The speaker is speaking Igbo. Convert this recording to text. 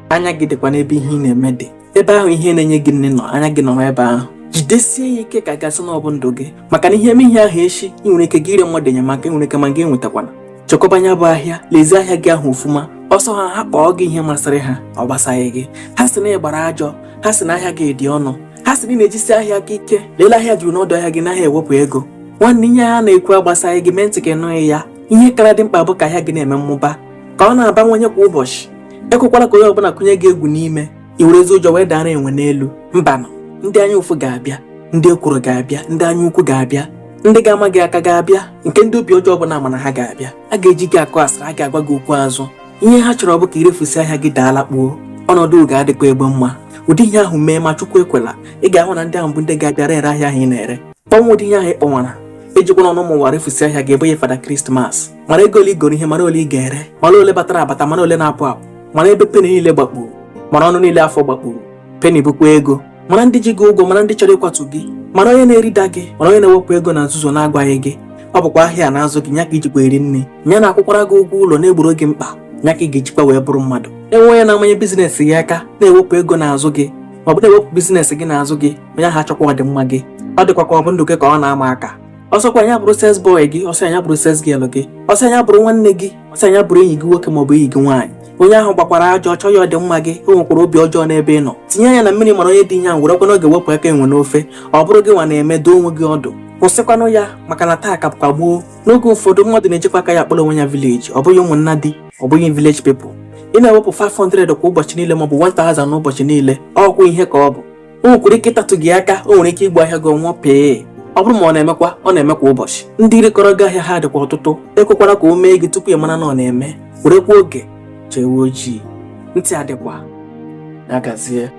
anya gị dịkwa n'ebe ihe ị na-eme dị ebe ahụ ihe na-enye gị nni nọ anya gị nọrọ ebe ahụ jidesie ya ike ka a ga-asị na ọ bụ ndụ gị maka na ihe mee ihe ahụ echi ị nwere ike gị rịọ mmadụ enyemaka ị nwere ike ma gị enwetakwana chekwaba nya bụ ahịa lezie ahịa gị ahụ ofuma ọ sọ ha ha kpọọ gị ihe masịrị ha ọ gbasaghị gị ha sị na ị gbara ajọ ha sị na ahịa gị dị ọnụ ha sị na ị na-ejisi ahịa gị ike lelee ahịa juru n'ọdụ ahịa gị n'ahịa ewepụ ego nwanne ihe ha na-ekwu agbasaghị gị mee ntị ka ị nụghị ya ihe kara dị mkpa bụ ka ahịa gị na-eme mmụba ka ọ na-abawanye kwa ụbọchị ekwekwala ka onye ọbụla kụnye gị egwu n'ime i werezie ụjọ wee dara enwe n'elu mbanụ ndị anya ụfụ ga-abịa ndị ekworo ga-abịa ndị anya ukwu ga-abịa ndị ga-ama gị aka ga-abịa nke ndị obi ọjọọ bụ na a ma na ha ga-abịa a ga-eji gị akụ asịrị a ga-agwa gị okwu azụ ihe ha chọrọ bụ ka i refusie ahịa gị daa ala kpuo ọnọdụ ga-adịkwa egwu ma ụdị ihe ahụ mee ma chukwu ekwela ị ga-ahụ na ndị ahụ bụ ndị ga-abịa rere ahịa ahụ ị na-ere kpọnwa ụdị ihe ahụ ị kpọnwara ejikwana ọnụ ụmụ ụwa refusie ahịa gị ị bụghị father christmas mara ego ole i goro ihe mara ole ị ga-ere mara ole batara abata mara ole na-apụ apụ mara ebe peni niile gbakpuru mara ọnụ niile afụ gbakpuru peni bụkwa ego mara ndị ji gị ụgwọ mara ndị chọrọ ịkwatu gị mara onye na-erida gị mara onye na-ewepụ ego na nzuzo na-agwaghị gị ọ bụkwa ahịa na-azụ gị nya ka i jikwa eri nni nya na-akwụkwara gị ụgwọ ụlọ na-egboro gị mkpa nya ka ị ga-ejikwa wee bụrụ mmadụ e nwee onye na-amanye business gị aka na-ewepụ ego n'azụ gị ma ọ bụ na-ewepụ business gị n'azụ gị onye ahụ achọghịkwa ọdịmma gị ọ dịkwa ka ọ bụ ndụ gị ka ọ na-ama aka ọ sọkwa nya bụrụ sales boy gị ọ sọ nya bụrụ sales girl gị ọ sọ nya bụrụ nwanne gị ọ sọ nya bụrụ enyi gị nwoke maọbụ enyi gị nwaanyị onye ahụ gbakwara ajọ ọ chọghị ọdịmma gị o nwekwara obi ọjọọ n'ebe ị nọ tinye anya na mmiri mara onye dị ihe ahụ werekwanụ oge wepụ aka enwe n'ofe ọ bụrụ gịnwa na-eme dụọ onwe gị ọdụ kwụsịkwanụ ya maka na taa ka bụkwa gboo na oge ụfọdụ mmadụ na-ejikwa aka ya akpọla onwe ya village ọ bụghị ụmụnna di ọ bụghị village people ị na-ewepụ 500 kwa ụbọchị niile maọbụ 1000 n'ụbọchị niile ọgwụ ihe ka ọ bụ o nwekwara ike ịtatụ gị aka o nwere ike ịgba ahịa gị ọnwa pee ọ bụrụ ma ọ na-emekwa ọ na-eme kwa ụbọchị ndị rekọrọ gị ahịa ha dịkwa ọtụtụ ekwekwala ka o mee gị tupu ị mara na ọ na-eme werekwa oge chọọ ewu ojii ntị adịkwa na-agazie